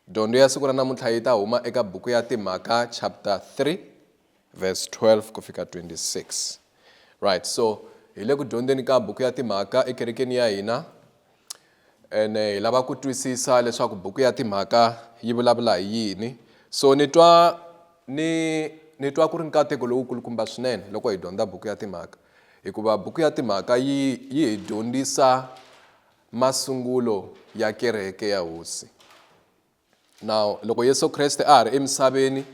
Dyondzo ya siku ra namuntlha yi ta huma eka buku ya Timhaka chapter 3 verse 12 ku fika 26. Right, so hi le ku dyondzeni ka buku ya Timhaka ekerekeni ya hina ene hi lava ku twisisa leswaku buku ya Timhaka yi vulavula hi yini. So ni twa ni ni twa ku ri nkateko lowu kulukumba swinene loko hi dyondza buku ya Timhaka hikuva buku ya Timhaka yi yi hi dyondzisa Masungulo ya kereke ya Hosi. Now, loko Yesu Kreste a ha ri emisaveni,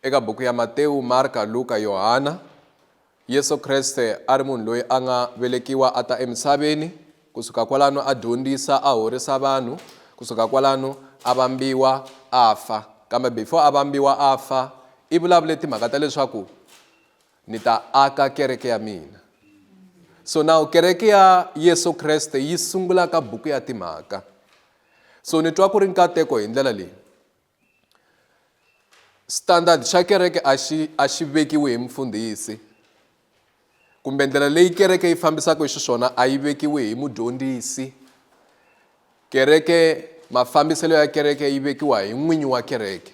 eka buku ya Matewu, Marka, Luka, Yohana, Yesu Kreste a ri munhu loyi a nga velekiwa a ta emisaveni, kusuka kwalano a dyondzisa, a horisa vanhu, kusuka kwalano a vambiwa, a fa. Kambe before a vambiwa a fa, i vulavule timhaka ta leswaku Ni ta aka kereke ya mina. So now kereke ya Yesu Kreste yi sungula ka buku ya timhaka. So ni twa ku ri nkateko hi ndlela leyi. Standard xa kereke a xi a xi vekiwi hi mufundhisi kumbe ndlela leyi kereke yi fambisaka hi xiswona a yi vekiwi hi mudyondzisi kereke mafambiselo ya kereke yi vekiwa hi n'winyi wa kereke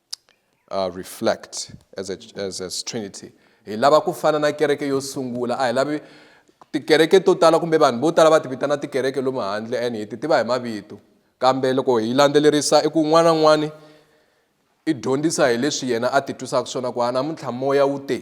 uh, reflect as a, as, as trinity hi lava ku fana na kereke yo sungula a hi lavi tikereke to tala kumbe vanhu vo tala va ti vitana tikereke lomu handle and hi ti tiva hi mavito kambe loko hi landzelerisa i ku n'wana n'wani i dyondzisa hi leswi yena a ti twisaka swona ku a namuntlha moya wu te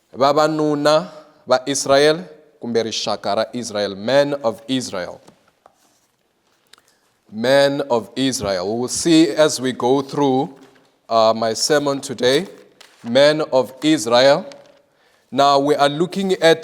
Vavanuna va Israel kumbe rixaka ra Israel, man of Israel. Man of Israel. We will see as we go through uh, my sermon today, man of Israel. Now we are looking at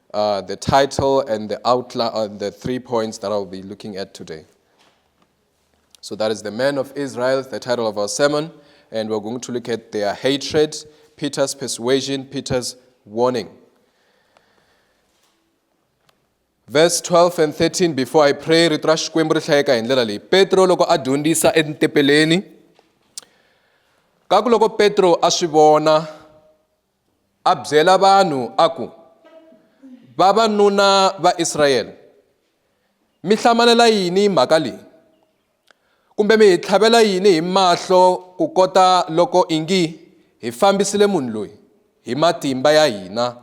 uh, the title and the outline, uh, the three points that I'll be looking at today. So that is the men of Israel, the title of our sermon, and we're going to look at their hatred, Peter's persuasion, Peter's warning. verse 12 and 13 before i pray rito ra xikwembu ri hlayeka hi ndlela leyi petro loko a dyondzisa etintepeleni ka ku loko petro a swi vona a byela vanhu a ku, Vavanuna va Israyele, mi hlamanela yini hi mhaka leyi? Kumbe mi hi tlhavela yini hi mahlo ku kota loko ingi hi fambisile munhu loyi hi matimba ya hina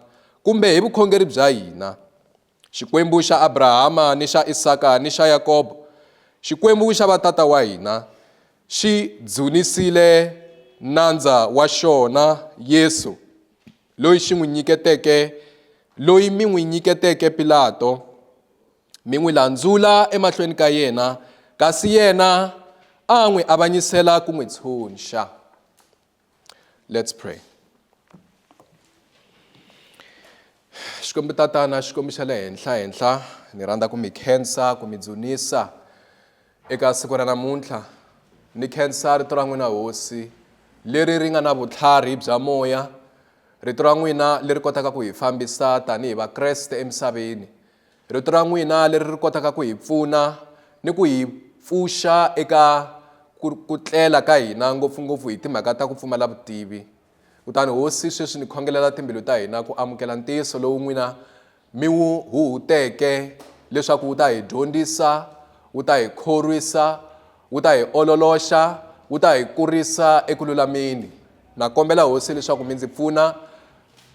kumbe hi vukhongeri bya hina? Xikwembu xa Abrahama, ni xa Isaka, ni xa Yakobo, Xikwembu xa vatata wa hina, xi dzunisile Nandza wa xona, Yesu, loyi xi n'wi nyiketeke, loyi mi n'wi nyiketeke Pilato, mi n'wi landzula emahlweni ka yena, kasi yena a n'wi avanyisela ku n'wi tshunxa. Let's pray. Xikwembu tatana Xikwembu xa le henhla henhla ni rhandza ku mi khensa ku mi dzunisa eka siku ra namuntlha ni khensa rito ra n'wina hosi leri ri nga na vutlhari bya moya rito ra n'wina leri kotaka ku hi fambisa tanihi vakreste emisaveni Rito ra n'wina leri ri kotaka ku hi pfuna ni ku hi pfuxa eka ku ku tlela ka hina ngopfungopfu hi timhaka ta ku pfumala vutivi. Kutani Hosi, sweswi ni khongelela timbilu ta hina ku amukela ntiyiso lowu n'wina mi wu huhuteke leswaku wu ta hi dyondzisa, wu ta hi khorwisa, wu ta hi ololoxa, wu ta hi kurisa eku lulameni. Na kombela Hosi leswaku mi ndzi pfuna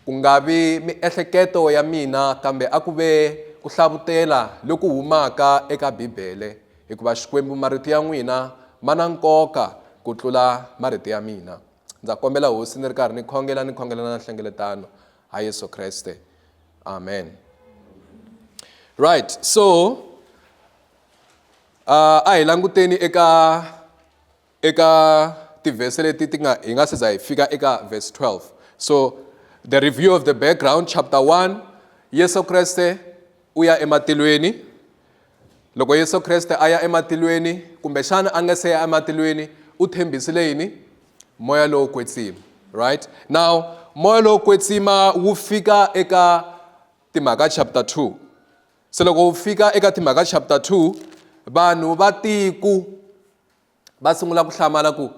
Ku nga vi miehleketo ya mina kambe a ku ve ku hlavutela loku humaka eka Bibele, hikuva Xikwembu marito ya n'wina ma na nkoka ku tlula marito ya mina. Ndza kombela Hosi ni ri karhi ni khongela ni khongela na nhlengeletano ha Yesu Kreste. Amen. Right, so uh, a hi languteni eka eka tivhese leti ti nga hi nga se za hi fika eka verse 12 so the review of the background chapter 1 yesu kreste u ya ematilweni loko yesu kreste a ya ematilweni kumbexana a nga se ya ematilweni u tshembisile yini moya lowo kwetsima right now moya lowo kwetsima wu fika eka timhaka chapter 2 se loko wu fika eka timhaka chapter 2 vanhu va tiku va sungula ku hlamala ku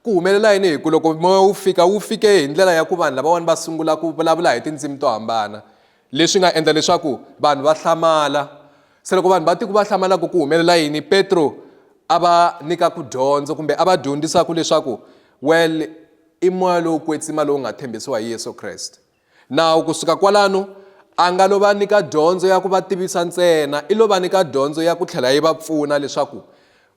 ku humelela yini hi ku loko moya wu fika wu fike hi ndlela ya ku vanhu lavawani va sungula ku vulavula hi tindzimi to hambana leswi nga endla leswaku vanhu va hlamala se loko vanhu va tiku va hlamalaku ku humelela yini petro a va nyika ku dyondzo kumbe a va dyondzisaku leswaku well i moya lowu kwetsima lowu nga tshembisiwa hi yesu kreste Nawu ku suka kwalano, a nga lo va nyika dyondzo ya ku va tivisa ntsena, i lo va nyika dyondzo ya ku tlhela yi va pfuna leswaku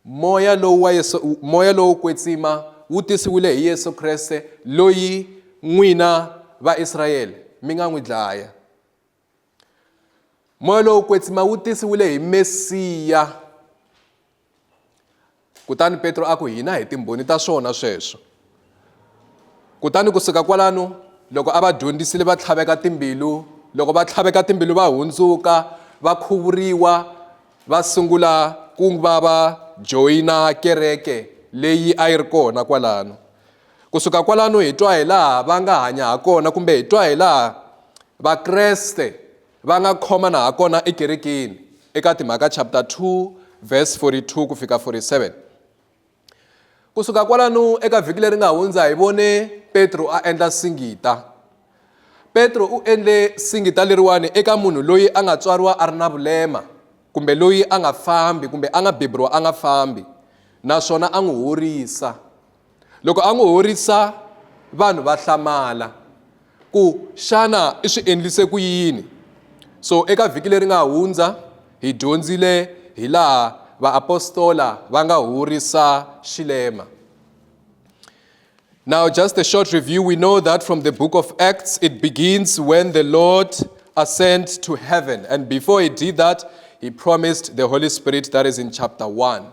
moya lowu wa Yesu, moya lowo kwetsima wu tisiwile hi Yesu Kreste loyi n'wina Vaisrayele mi nga n'wi dlaya. Moya lowo kwetsima wu tisiwile hi Mesiya. Kutani Petro a ku, Hina hi timbhoni ta swona sweswo. Kutani ku suka kwalano, loko a va dyondzisile va tlhaveka timbilu, loko va tlhaveka timbilu va hundzuka, va khuvuriwa, va sungula ku va va joyina kereke leyi a yi ri kona kwalano. Ku suka kwalano hi twa hi laha va nga hanya ha kona kumbe hi twa hi laha Vakreste Va nga khomana hakona ekerekeni, eka Timhaka chapter 2 verse 42 ku fika 47. Ku suka kwalano eka vhiki leri nga hundza hi vone Petro a endla singita. Petro u endle singita leriwani eka munhu loyi a nga tswariwa a ri na vulema kumbe loyi a nga fambi kumbe a nga beburiwa a nga fambi naswona a n'wi horisa. loko a n'wi horisa vanhu va hlamala ku xana i swi endlise ku yini so eka vhiki leri nga hundza hi dyondzile hi laha vaapostola va nga horisa xilema Now, just a short review. We know that from the book of Acts, it begins when the Lord ascends to heaven. And before he did that, he promised the Holy Spirit, that is in chapter 1.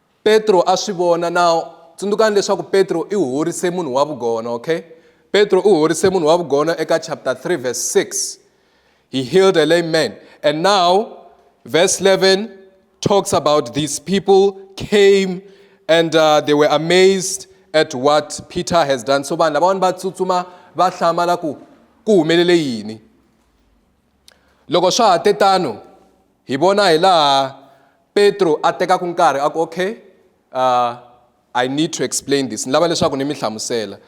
Petro a swi vona na tsundzukani leswaku Petro i horise munhu wa vugona okay Petro u horise munhu wa vugona eka chapter 3 verse 6 he healed a lame man and now verse 11 talks about these people came and uh, they were amazed at what Peter has done so vanhu lavawani va tsutsuma va hlamala ku ku humelele yini loko swa ha te tano Hi vona hi laha Petro a tekaka nkarhi a ku, okay, uh, I need to explain this, ni lava leswaku ni mi hlamusela.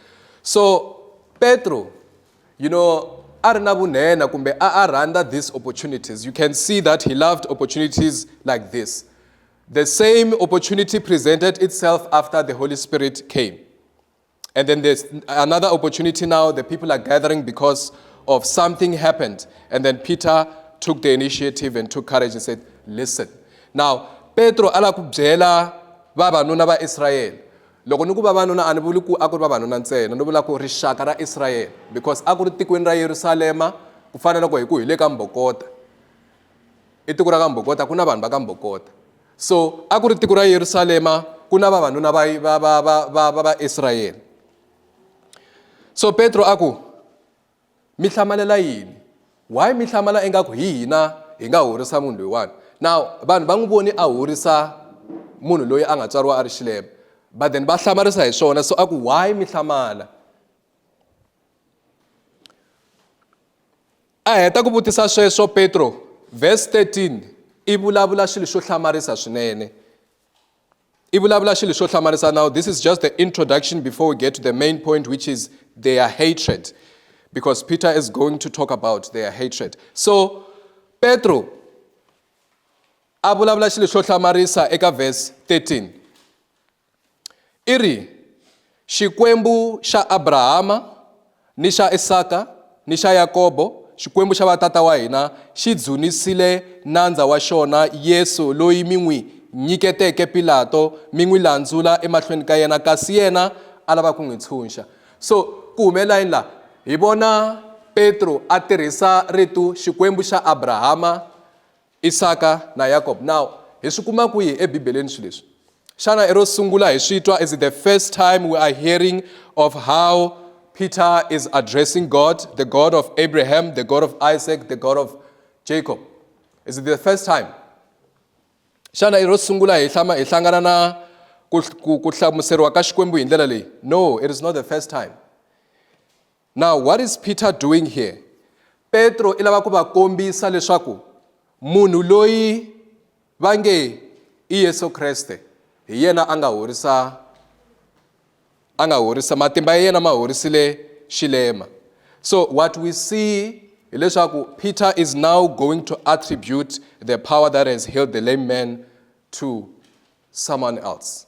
So Petro, you know, a ri na vunhenha kumbe a a rhandza these opportunities. You can see that he loved opportunities like this. The same opportunity presented itself after the Holy Spirit came. And then there's another opportunity now. The people are gathering because of something happened. And then Peter took the initiative and took courage and said, listen. Now, Petro ala ku byela vavanuna va Israyele loko ni ku vavanuna a ni vuli ku a ku ri vavanuna ntsena ni vula ku rixaka ra israyele because a ku ri tikweni ra yerusalema ku fana loko hi ku hi le ka mbokota i tiko ra ka mbokota ku na vanhu va ka mbokota So a ku ri tiko ra Yerusalema ku na vavanuna va va va va va va va Israyele. So Petro a ku mi hlamalela yini? Why mi hlamala ingaku hi hina hi nga horisa munhu loyiwani? Now vanhu va n'wi voni a horisa munhu loyi a nga tswariwa a ri xilema but then va hlamarisa hi swona so a ku why mi hlamala? A heta ku vutisa sweswo, Petro, verse 13, i vulavula xilo xo hlamarisa swinene. I vulavula xilo xo hlamarisa. Now, this is just the introduction before we get to the main point, which is their hatred. Because Peter is going to talk about their hatred. So, Petro, a vulavula xilo xo hlamarisa eka verse 13. I ri, Xikwembu xa Abrahama ni xa Isaka ni xa Yakobo, Xikwembu xa vatata wa hina xi dzunisile nandza wa xona Yesu loyi mi n'wi nyiketeke Pilato mi n'wi landzula emahlweni ka yena kasi yena a lava ku n'wi tshunxa. So ku humelela yini laha? Hi vona Petro a tirhisa ritu Xikwembu xa Abrahama Isaka na Yakob. Now, hi swi kuma kwihi eBibeleni swilo leswi? Xana i ro sungula hi swi twa? Is it the first time we are hearing of how Peter is addressing God, the God of Abraham, the God of Isaac, the God of Jacob? Is it the first time? Xana i ro sungula hi hlama hi hlangana na ku hlamuseriwa ka Xikwembu hi ndlela leyi? No, it is not the first time. Now what is Peter doing here? Petro i lava ku va kombisa leswaku munhu loyi va nge i Yesu Kreste hi yena a nga horisa a nga horisa matimba ya yena ma horisile xilema. So what we see hileswaku Peter is now going to attribute the power that has healed the lame man to someone else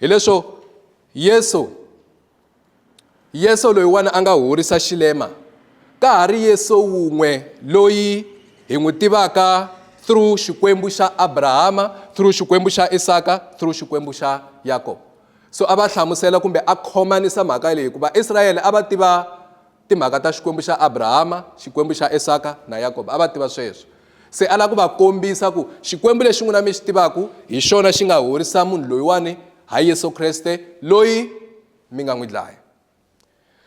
hileswo yesu yesu loyiwani a nga horisa xilema ka ha ri yesu wun'we loyi hi n'wi tivaka through xikwembu xa abrahama through xikwembu xa isaka through xikwembu xa yakobo so a va hlamusela kumbe a khomanisa mhaka leyi hikuva israyele a va tiva Timhaka ta Xikwembu xa Abrahama, Xikwembu xa Esaka na Yakobo, a va tiva sweswo. Se a lava ku va kombisa ku Xikwembu lexi n'wina mi xi tivaka hi xona xi nga horisa munhu loyiwani, hayi Yesu Kreste loyi mi nga n'wi dlaya.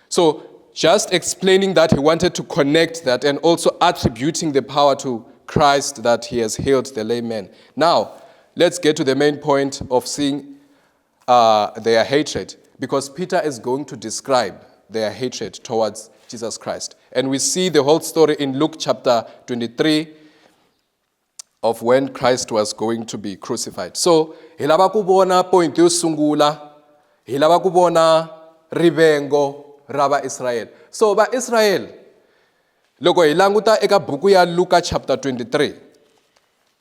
So just explaining that he wanted to connect that and also attributing the power to Christ that he has healed the lame man. Now let's get to the main point of seeing uh, their hatred because Peter is going to describe their hatred towards Jesus Christ. And we see the whole story in Luke chapter 23 of when Christ was going to be crucified. So, hi lava ku vona point yo sungula, hi lava ku vona rivengo ra Vaisrael. So, Vaisrael, loko hi languta eka buku ya Luka chapter 23,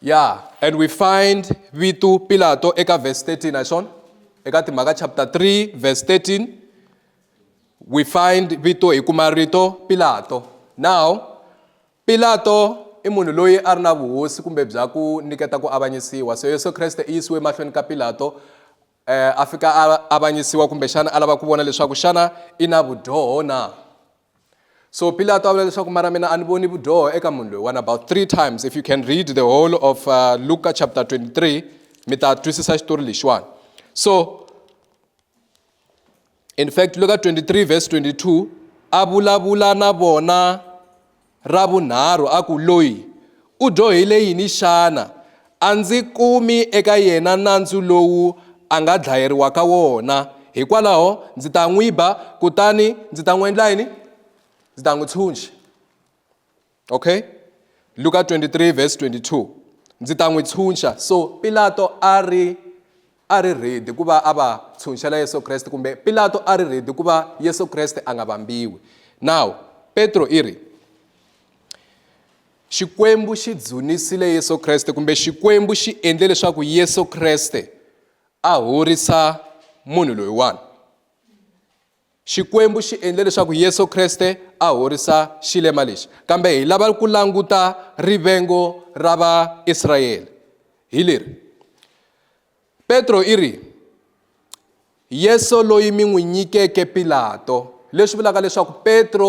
Yeah, and we find vito Pilato eka verse 13, I swona? Eka Timhaka chapter 3 verse 13 we find vito hi kuma rito Pilato. Now Pilato i munhu loyi a ri na vuhosi kumbe bya ku niketa ku avanyisiwa so yesu kreste i yisiwe emahlweni ka pilato eh, a fika a avanyisiwa kumbexana a lava ku vona leswaku xana i na vudyoho na so pilato a vula leswaku mara mina a ni voni vudyoho eka munhu loyi one about three times if you can read the whole of uh, luka chapter 23 mi ta twisisa xitori lexiwani so in fact le ka 23 verse 22 a vulavula na vona ra vunharhu a ku loyi u dyohile yini xana a ndzi kumi eka yena nandzu lowu a nga dlayeriwa ka wona hikwalaho ndzi ta n'wi ba kutani ndzi ta n'wi endla yini ndzi ta n'wi tshunxa Okay? Luka 23 verse 22. Ndzi ta n'wi tshunxa. So Pilato a ri a ri ready ku va a va tshunxela Yesu Kreste kumbe Pilato a ri ready ku va Yesu Kreste a nga vambiwi. Now, Petro i ri Xikwembu xi dzunisile Yesu Kreste kumbe Xikwembu xi endle leswaku Yesu Kreste a horisa munhu loyiwani. Xikwembu xi endle leswaku Yesu Kriste a horisa xilema lexi, kambe hi lava ku languta rivengo ra Vaisrayele. Hi leri, Petro i ri, Yesu loyi mi n'wi nyikeke Pilato, leswi vulaka leswaku Petro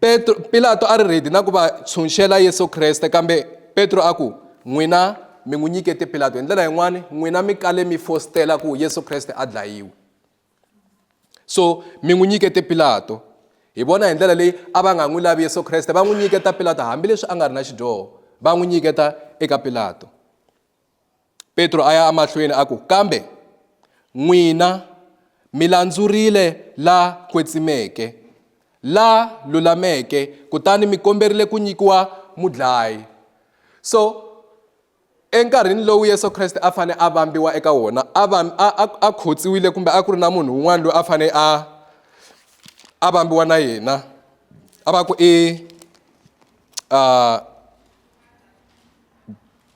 Petro, Pilato a ri rhedi na ku va tshunxela Yesu Kreste, kambe Petro a ku, N'wina mi n'wi nyikete Pilato. Hi ndlela yin'wana, n'wina mi kale mi fositela ku Yesu Kreste a dlayiwe. So mi n'wi nyikete Pilato. Hi vona hi ndlela leyi a va nga n'wi lavi Yesu Kreste, va n'wi nyiketa Pilato hambileswi a nga ri na xidyoho, va n'wi nyiketa eka Pilato. Petro a ya amahlweni a ku, Kambe n'wina mi landzurile la kwetsimeke, la lulameke, kutani mi komberile ku nyikiwa mudlayi. So, enkarhini lowu Yesu Kreste a fanele a vambiwa eka wona, a, a, a, a khotsiwile kumbe a ku ri na munhu un'wana loyi a fanele a a vambiwa na yena a va ku i uh,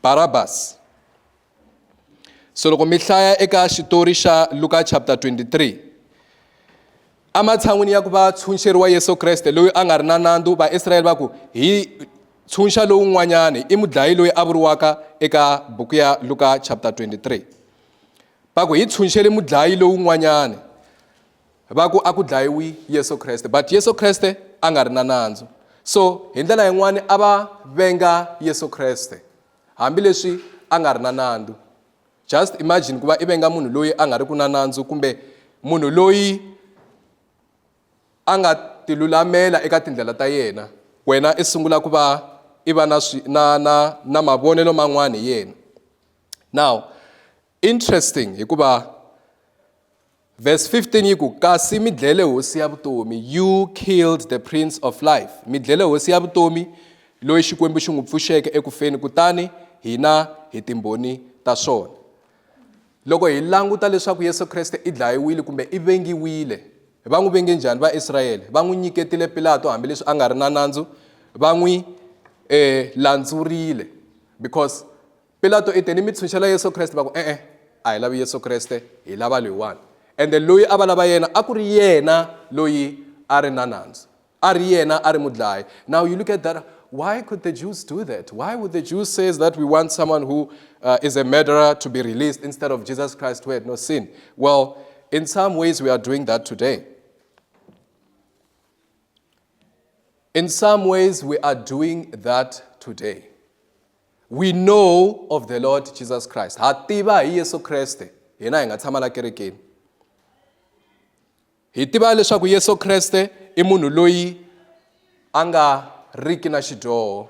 Barabasi. So loko mi hlaya eka xitori xa Luka chapter 23 ematshan'wini ya ku va tshunxeriwa Yesu Kreste loyi a nga ri na nandzu Vaisrayele va ku hi tshunxa lowun'wanyani i mudlayi loyi a vuriwaka eka buku ya Luka chapter 23 va ku hi tshunxele mudlayi lowun'wanyani va ku a ku dlayiwi yesu kreste but yesu kreste a nga ri na nandzu so hi ndlela yin'wani a va venga yesu kreste hambileswi a nga ri na nandzu just imagine ku va i venga munhu loyi a nga ri ku na nandzu kumbe munhu loyi a nga tilulamela eka tindlela ta yena wena i sungula ku va i va na na na na mavonelo man'wana hi yena now Interesting hikuva verse 15 yi ku kasi mi dlele hosi ya vutomi you killed the prince of life mi dlele hosi ya vutomi loyi xikwembu xi n'wi pfuxeke eku feni kutani hina hi timbhoni ta swona loko hi languta leswaku yesu kreste i dlayiwile kumbe i vengiwile va n'wi venge njhani vaisrayele va n'wi nyiketile pilato hambileswi a nga ri na nandzu va n'wi um landzurile because Pilato i te ni mitshunxa la Yesu Kreste va ku, E-e, a hi lavi Yesu Kreste, hi lava loyiwani. Ende loyi a va lava yena a ku ri yena loyi a ri na nandzu, a ri yena a ri mudlayi. Now you look at that, why could the Jews do that? Why would the Jews says that we want someone who uh, is a murderer to be released instead of Jesus Christ who had no sin? Well, in some ways we are doing that today. In some ways, we are doing that today. we know of the lord jesus christ ha tiva hi yesu kreste hina hi nga tshama la kerekeni hi tiva leswaku yesu kreste i munhu loyi a nga riki na xidyoho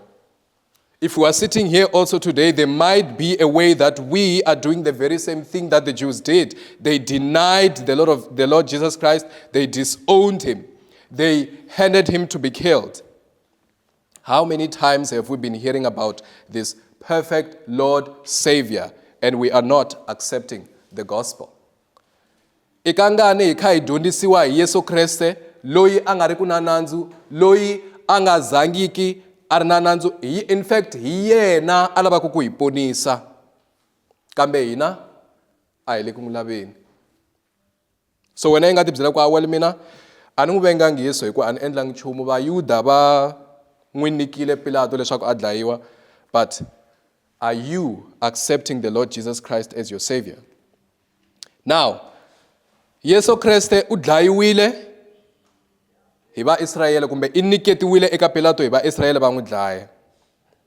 if we are sitting here also today there might be a way that we are doing the very same thing that the jews did they denied the lord of the lord jesus christ they disowned him they handed him to be killed How many times have we been hearing about this perfect Lord Savior and we are not accepting the gospel? i ka ngani hi kha hi dyondzisiwa hi yesu kreste loyi a nga ri ku na nandzu loyi a nga zangiki a ri na nandzu hi in fact hi yena a lavaka ku hi ponisa kambe hina a hi le ku n'wi laveni so wena yi nga ti byela ku awel mina a ni n'wi vengangi yesu hi ku a ni endlangi nchumu vayuda va n'wi nikile pilato leswaku a dlayiwa but are you accepting the lord jesus christ as your savior now yesu kreste u dlayiwile hi vaisrayele kumbe i niketiwile eka pilato hi vaisrayele va n'wi dlaya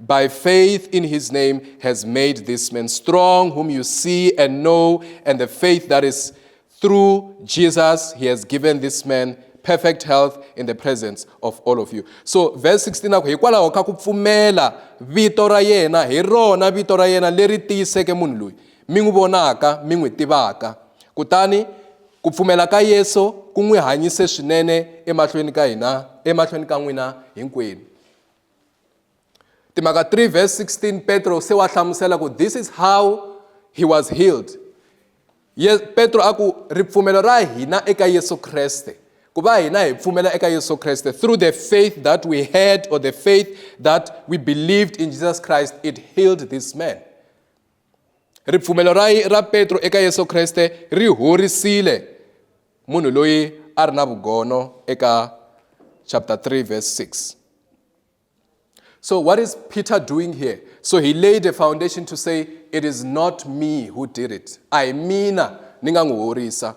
by faith in his name has made this man strong, whom you see and know, and the faith that is through Jesus, he has given this man perfect health in the presence of all of you so verse 16 a ku hikwalaho ka ku pfumela vito ra yena hi rona vito ra yena leri tiyiseke munhu loyi mi n'wi vonaka mi n'wi tivaka kutani ku pfumela ka yesu ku n'wi hanyise swinene emahlweni ka hina emahlweni ka n'wina hinkwenu timhaka 3 verse 16 petro se wa hlamusela ku this is how he was healed Ye, petro a ku ripfumelo ra hina eka yesu kreste ku va hina hi pfumela eka yesu kreste through the faith that we had or the faith that we believed in jesus christ it healed this man Ripfumelo ra, ra Petro eka Yesu Kreste ri horisile munhu loyi a ri na vugono eka chapter 3 verse 6. So what is Peter doing here? So he laid a foundation to say it is not me who did it. A hi mina ni nga n'wi horisa.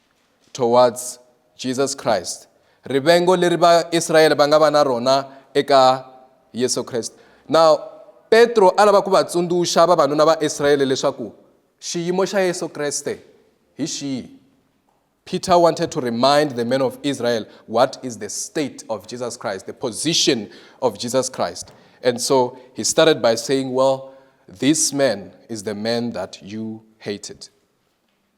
towards Jesus Christ rivengo leri Vaisrayele va nga va na rona eka Yesu Kreste now Petro a lava ku va tsundzuxa vavanuna va Israyele leswaku xiyimo xa Yesu Kreste hi xihi Peter wanted to remind the men of Israel what is the state of Jesus Christ, the position of Jesus Christ. And so he started by saying, Well, this man is the man that you hated.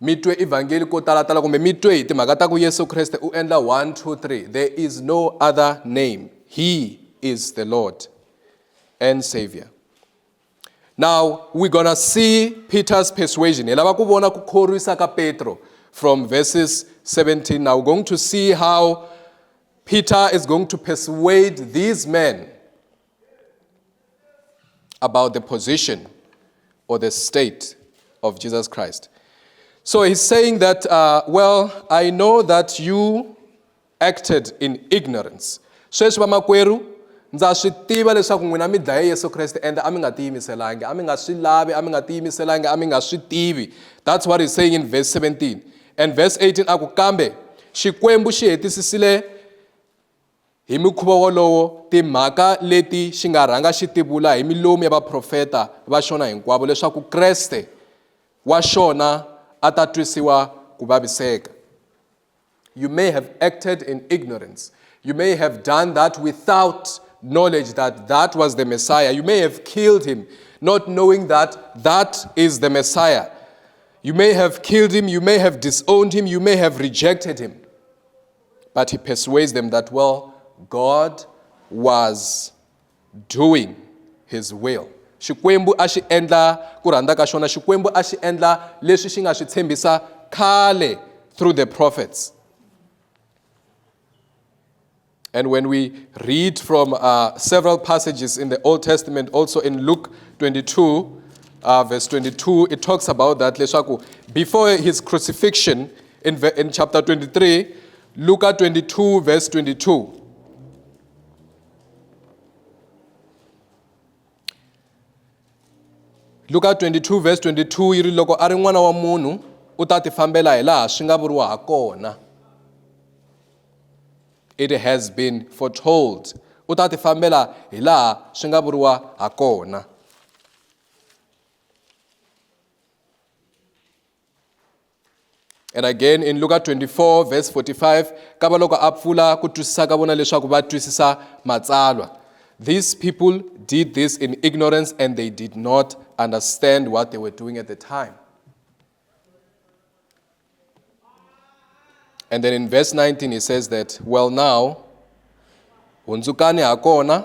mi twe evhangeli ko talatala kumbe mi twe hi timhaka ta ku yesu kreste u endla 1 2 3 there is no other name he is the lord and savior now we're gonna see peter's persuasion hi lava ku vona ku khorwisa ka petro from verses 17 now we're going to see how peter is going to persuade these men about the position or the state of Jesus Christ. So he's saying that, uh, well, I know that you acted in ignorance. Sweswi vamakwerhu ndza swi tiva leswaku n'wina mi dlaye Yesu Kreste and a mi nga tiyimiselangi, a mi nga swi lavi, a mi nga tiyimiselangi, a mi nga swi tivi. That's what he's saying in verse 17. And verse 18 a ku kambe Xikwembu xi hetisisile Hi mukhuva wolowo, timhaka leti xi nga rhanga xi ti vula hi milomu ya vaprofeta va xona hinkwavo leswaku Kreste wa xona a ta twisiwa ku vaviseka. You may have acted in ignorance. You may have done that without knowledge that that was the Messiah. You may have killed him not knowing that that is the Messiah. You may have killed him, you may have disowned him, you may have rejected him. But he persuades them that, well, God was doing his will. Xikwembu a xi endla ku rhandza ka xona, Xikwembu a xi endla leswi xi nga swi tshembisa khale through the prophets. And when we read from uh, several passages in the Old Testament, also in Luke 22, uh, verse 22, it talks about that. Before his crucifixion, in, in chapter 23, Luke 22, verse 22. Luke 22 verse 22 yi ri loko a ri n'wana wa munhu u ta tifambela hi laha swi nga vuriwa ha kona it has been foretold u ta tifambela hi laha swi nga vuriwa ha kona and again in luka 24 verse 45 ka va loko a pfula ku twisisa ka vona leswaku va twisisa matsalwa these people did this in ignorance and they did not understand what they were doing at the time and then in verse 19 he says that well now hundzukani ha kona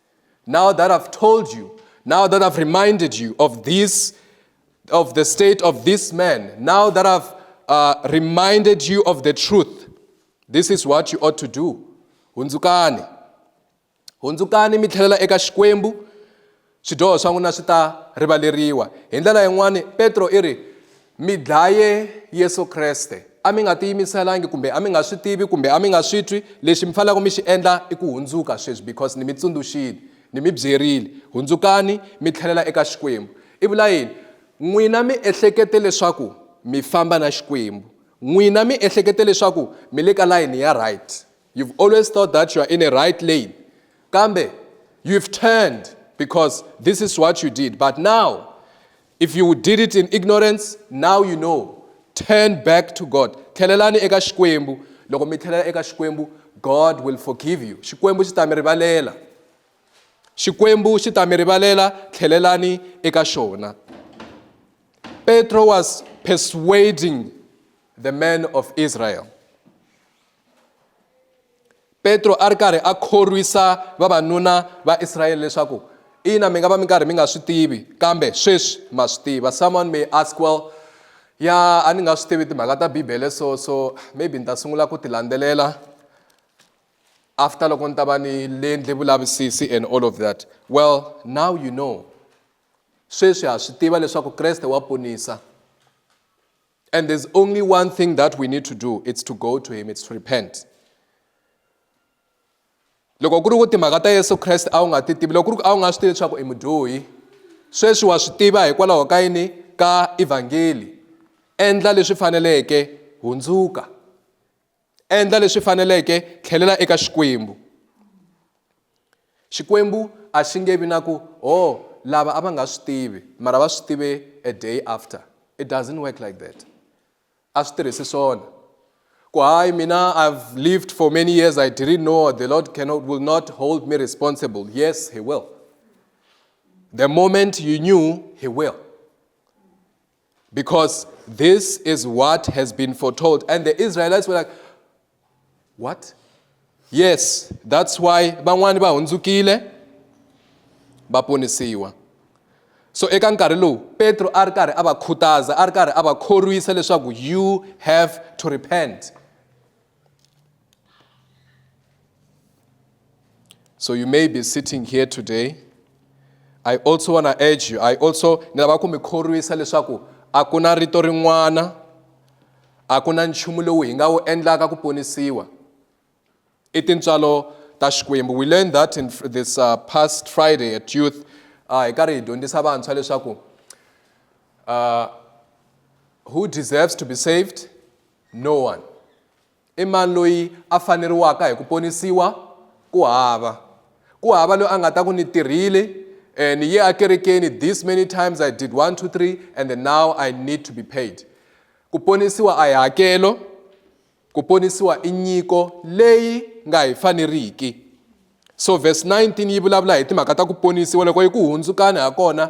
Now that I've told you, now that I've reminded you of this, of the state of this man, now that I've uh, reminded you of the truth, this is what you ought to do. Hunzukani. Hunzukani mi tlhelela eka Xikwembu, swidyoho swa n'wina swi ta rivaleriwa. Hi ndlela yin'wana Petro i ri, Mi dlaye Yesu Kreste. A mi nga tiyimiselangi kumbe a mi nga swi tivi kumbe a mi nga swi twi. Lexi mi fanelaka mi xi endla i ku hundzuka sweswi because ni mi tsundzuxile, ni mi byerile. Hundzukani mi tlhelela eka Xikwembu. I vula yini? N'wina mi ehlekete leswaku mi famba na Xikwembu. N'wina mi ehlekete leswaku mi le ka layini ya right. You've always thought that you are in a right lane. Kambe you've turned because this is what you did. But now If you did it in ignorance, now you know. Turn back to God. Tlhelelani eka Xikwembu. Loko mi tlhelela eka Xikwembu, God will forgive you. Xikwembu xi ta mi rivalela. Xikwembu xi ta mi rivalela, tlhelelani eka xona. Petro was persuading the men of Israel. petro a ri karhi a khorwisa vavanuna va israyele leswaku ina mi nga va mi karhi mi nga swi tivi kambe sweswi ma swi tiva someone may ask well ya a ni nga swi tivi timhaka ta bibele so so maybe ni ta sungula ku ti landzelela after loko ni ta va ni lendle vulavisisi and all of that well now you know sweswi ha swi tiva leswaku kreste wa ponisa And there's only one thing that we need to do, it's to go to him, it's to repent. loko ku ri ku timhaka ta yesu kreste a wu nga ti tivi loko ku ri ku a wu nga swi tivi leswaku i mudyohi sweswi wa swi tiva hikwalaho ka yini ka evhangeli endla leswi faneleke hundzuka endla leswi faneleke tlhelela eka xikwembu xikwembu a xi nge vi na ku o oh, lava a va nga swi tivi mara va swi tive a day after it doesn't work like that a swi tirhisi swona ku hayi mina i've lived for many years i didn't know the lord cannot, will not hold me responsible yes he will the moment you knew he will Because this is what has been foretold. And the Israelites were like, What? Yes, that's why van'wani va hundzukile va ponisiwa. So eka nkarhi lowu Petro a ri karhi a va khutaza, a ri karhi a va khorwisa leswaku you have to repent. so you may be sitting here today i also want to urge you i also ni lava ku mi khorwisa leswaku a ku na rito rin'wana a ku na nchumu lowu hi nga wu endlaka ku ponisiwa i tintswalo ta xikwembu we learned that in this uh, past friday at youth uh, hi karhi hi dyondzisa vantshwa leswaku uh, who deserves to be saved No 1. I mani loyi a faneriwaka hi ku ponisiwa? Ku hava. Ku hava loyi a nga ta ku ni tirhile, eh, ni ye akerekeni this many times I did 1 2 3 and then now I need to be paid. Ku ponisiwa a hi hakelo, ku ponisiwa i nyiko leyi nga hi faneriki. So verse 19 yi vulavula hi timhaka ta ku ponisiwa loko yi ku hundzukani ha kona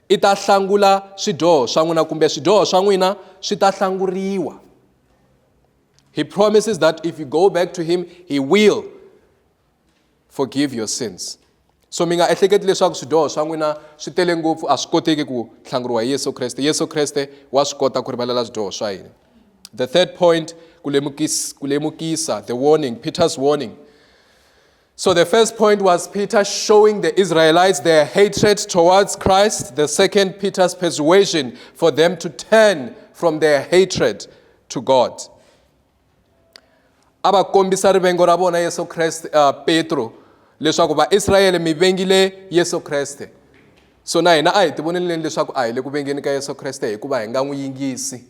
I ta hlangula swidyoho swa n'wina kumbe swidyoho swa n'wina swi ta hlanguriwa. He promises that if you go back to him, he will forgive your sins. So mi nga ehleketi leswaku swidyoho swa n'wina swi tele ngopfu a swi koteki ku hlanguriwa hi Yesu Kreste. Yesu Kreste wa swi kota ku rivalela swidyoho swa hina. The third point, ku lemukisa, ku lemukisa, the warning, Peter's warning. So the first point was Peter showing the Israelites their hatred towards Christ. The second, Peter's persuasion for them to turn from their hatred to God. a va kombisa rivengo ra vona yesu kreste uh, petro leswaku vaisrayele mi vengile yesu kreste so na hina a hi tivoneleni leswaku a hi le ku vengeni ka yesu kreste hikuva hi nga n'wi yingisi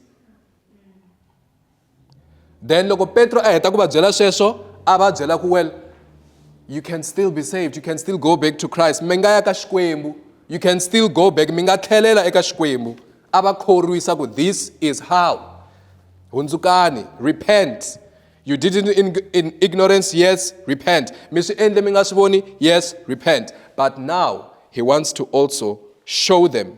then loko petro a heta ku va byela sweswo a va byela ku well you can still be saved you can still go back to christ mi nga ya ka xikwembu you can still go back mi nga tlhelela eka xikwembu a va khorwisa ku this is how hundzukani repent you did it in, in ignorance yes repent mi swi endle mi nga swi voni yes repent but now he wants to also show them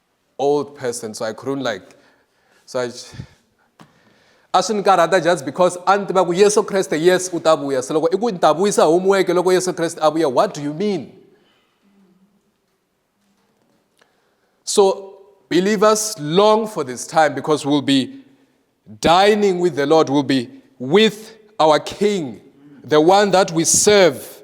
old person so I couldn't like so I a swi ni karhata just because a ni tiva ku yesu kreste yes u ta vuya se loko i ku ni ta vuyisa homework loko yesu kreste a vuya what do you mean so believers long for this time because we'll be dining with the lord we'll be with our king the one that we serve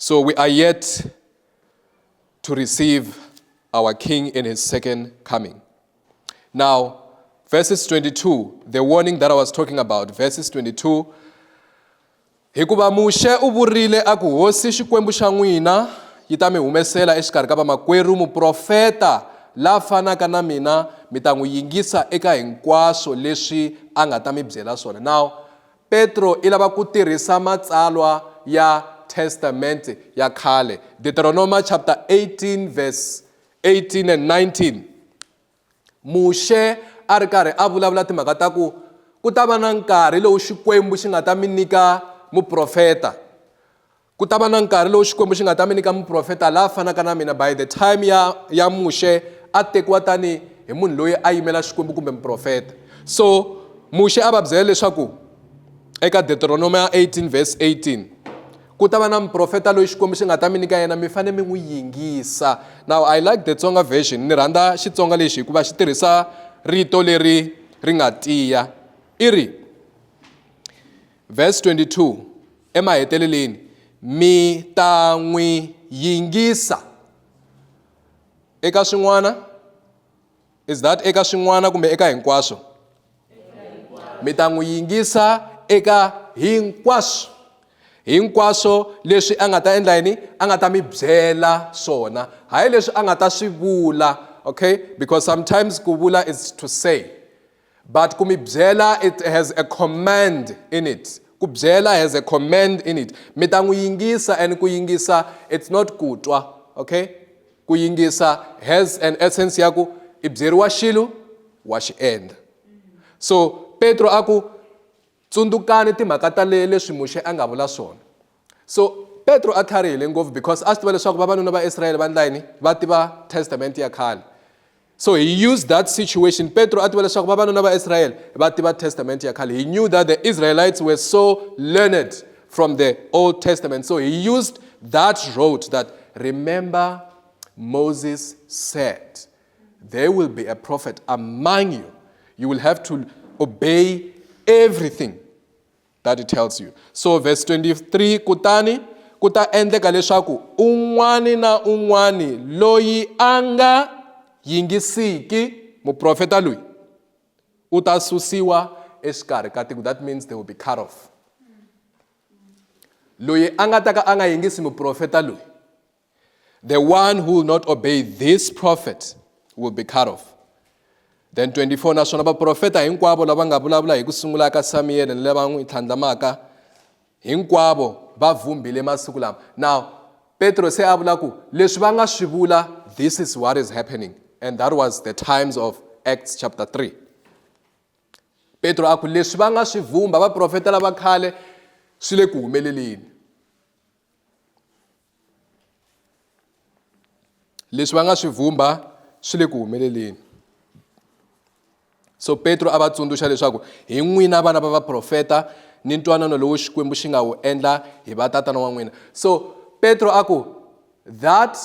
So we are yet to receive our King in his second coming. Now, verses 22, the warning that I was talking about, verses 22. hikuva muxe u vurile a ku hosi xikwembu xa n'wina yi ta mi humesela exikarhi ka vamakwerhu muprofeta la fanaka na mina mi ta n'wi yingisa eka hinkwaswo leswi a nga ta mi byela swona now Petro i lava ku tirhisa matsalwa ya Testamente ya khale, Deuteronoma chapter 18 verse 18 and 19. Muxe a ri karhi a vulavula timhaka ta ku ku ta va na nkarhi lowu Xikwembu xi nga ta mi nyika muprofeta. Ku ta va na nkarhi lowu Xikwembu xi nga ta mi nyika muprofeta la fanaka na mina by the time ya ya Muxe a tekiwa tani hi munhu loyi a yimela Xikwembu kumbe muprofeta. So Muxe a va byela leswaku eka Deuteronomy 18 verse 18 ku ta va na muprofeta loyi Xikwembu xi nga ta mi nyika yena mi fane mi n'wi yingisa. Now I like the Tsonga version ni rhandza Xitsonga lexi hikuva xi tirhisa rito leri ri nga tiya i ri Verse 22, Emaheteleleni mi ta n'wi yingisa eka swin'wana is that eka swin'wana kumbe eka hinkwaswo mi ta n'wi yingisa eka hinkwaswo hinkwaswo leswi a nga ta endla yini a nga ta mi byela swona hayi leswi a nga ta swi vula okay because sometimes ku vula is to say But ku mi byela it has a command in it. Ku byela has a command in it. Mi ta n'wi yingisa and ku yingisa it's not ku twa. Okay? Ku yingisa has an essence ya ku i byeriwa xilo wa xi endla. So Petro a ku Tsundzukani timhaka ta le leswi Muxe a nga vula swona. So Petro a tlharihile ngopfu because a swi tiva leswaku vavanuna va Israyele va ndla yini? Va tiva Testament ya khale. So he used that situation. Petro a tiva leswaku vavanuna va Israyele va tiva Testament ya khale. He knew that the Israelites were so learned from the Old Testament. So he used that road that remember Moses said. There will be a prophet among you. You will have to obey everything that he tells you. So verse 23, kutani kuta ta endleka leswaku un'wani na un'wani loyi a nga yingisiki muprofeta loyi u ta susiwa exikarhi ka tiko that means they will be cut off loyi a nga ta ka a nga yingisi muprofeta loyi The one who will not obey this prophet will be cut off. Then 24 naswona vaprofeta hinkwavo lava nga vulavula hi ku sungula ka Samiyele ni lava n'wi tlhandlamaka hinkwavo va vhumbile masiku lama. Now Petro se a vula ku leswi va nga swi vula this is what is happening and that was the times of Acts chapter 3. Petro a ku leswi va nga swi vumba vaprofeta lava khale swi le ku humeleleni. leswi va nga swi vhumba swi le ku humeleleni so petro a va tsundzuxa leswaku hi n'wina vana va vaprofeta ni ntwanano lowu xikwembu xi nga wu endla hi vatatana wa n'wina so petro a ku that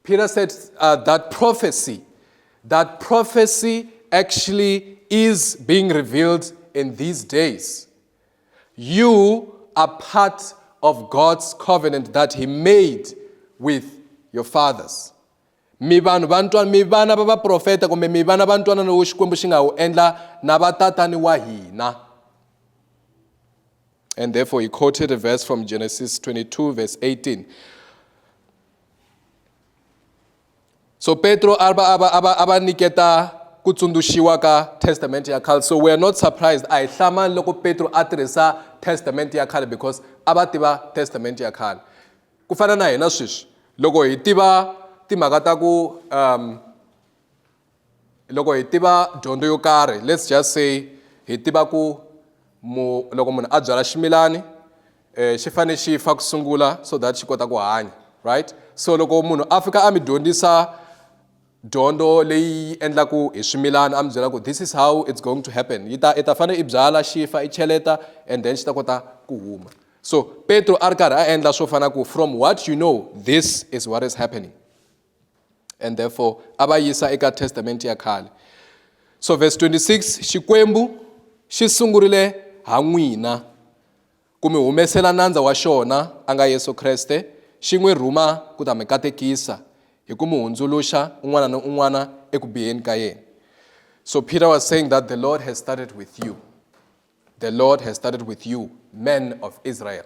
peter said uh, that prophecy that prophecy actually is being revealed in these days You are part of God's covenant that he made with your fathers. mi vanhu va ntwana mi vana va vaprofeta kumbe mi vana va ntwana lowu xikwembu xi nga wu endla na vatatani wa hina and therefore he quoted a verse from genesis 22 verse 18 So Petro aba aba aba aba niketa ku tsundzuxiwa ka testament ya khale so we are not surprised a hi hlamani loko Petro a tirhisa testament ya khale because a va tiva testament ya khale ku fana na hina sweswi loko hi tiva timhaka ta ku um loko hi tiva dyondzo yo karhi let's just say hi tiva ku mu loko munhu a byala ximilani um xi fanele xi fa ku sungula so that xi kota ku hanya right so loko munhu a fika a mi dyondzisa dyondzo leyi endlaku hi swimilana a mi byela ku this is how it's going to happen yi ta i ta fanele i byala xi fa i cheleta and then xi ta kota ku huma so petro a ri karhi a endla swo fana ku from what you know this is what is happening and therefore a va yisa eka testamente ya khale so verse 26 xikwembu xi sungurile ha n'wina ku mi humesela nandza wa xona a nga yesu kreste xi n'wi rhuma ku ta mi katekisa hi ku mi hundzuluxa un'wana ni un'wana eku biheni ka yena so peter was saying that the lord has started with you the lord has started with you men of israel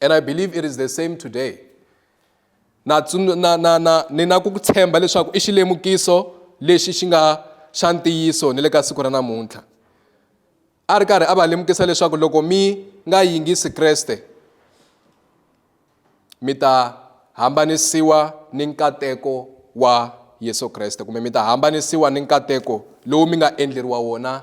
and i believe it is the same today na na na na ni na ku tshemba leswaku i xilemukiso lexi xi nga xa ntiyiso ni le ka siku ra namuntlha a ri karhi a va lemukisa leswaku loko mi nga yingisi kreste mi ta hambanisiwa ni nkateko wa yesu kreste kumbe mi ta hambanisiwa ni nkateko lowu mi nga endleriwa wona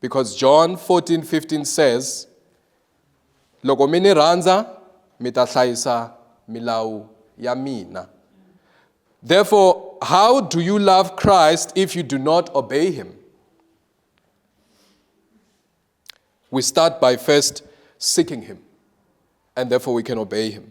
because john 14 15 says loko mi ni rhandza mi ta hlayisa milawu ya mina therefore how do you love christ if you do not obey him we start by first seeking him and therefore we can obey him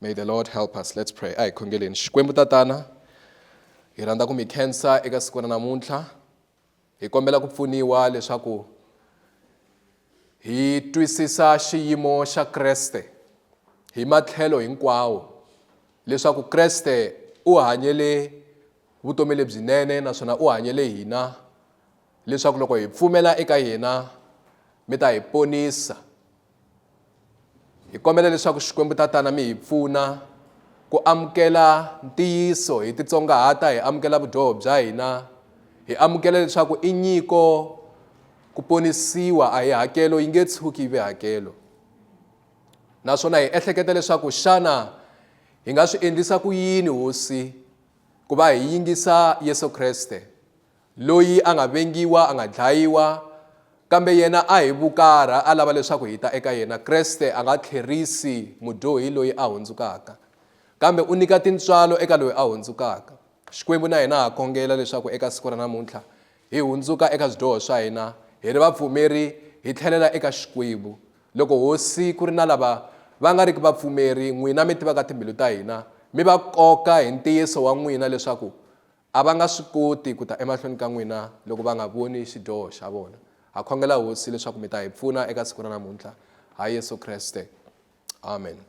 May the Lord help us. Let's pray. Ai khongeleni. Xikwembu tatana hi rhandza ku mi khensa eka siku ra namuntlha. Hi kombela ku pfuniwa leswaku hi twisisa xiyimo xa Kreste hi matlhelo hinkwawo leswaku Kreste u hanyele vutomi lebyinene naswona u hanyele hina leswaku loko hi pfumela eka yena mi ta hi ponisa hi kombela leswaku xikwembu tatana mi hi pfuna ku amukela ntiyiso hi titsongahata hi amukela vudyoho bya hina hi amukela leswaku i nyiko ku ponisiwa a hi hakelo yi nge tshuki yi ve hakelo naswona hi ehleketa leswaku xana hi nga swi endlisa ku yini hosi ku va hi yingisa yesu kreste Loyi a nga vengiwa, a nga dlayiwa, kambe yena a hi vukarha a lava leswaku hi ta eka yena. Kreste a nga tlherisi mudyohi loyi a hundzukaka, kambe u nyika tintswalo eka loyi a hundzukaka. Xikwembu na hina ha khongela leswaku eka siku ra namuntlha hi hundzuka eka swidyoho swa hina, hi ri vapfumeri, hi tlhelela eka Xikwembu. Loko Hosi ku ri na lava va nga riki vapfumeri, n'wina mi tivaka timbilu ta hina, mi va koka hi ntiyiso wa n'wina leswaku A va nga swi koti ku ta emahlweni ka n'wina loko va nga voni xidyoho xa vona. Ha khongela Hosi leswaku mi ta hi pfuna eka siku ra namuntlha. Ha Yesu Kreste. Amen.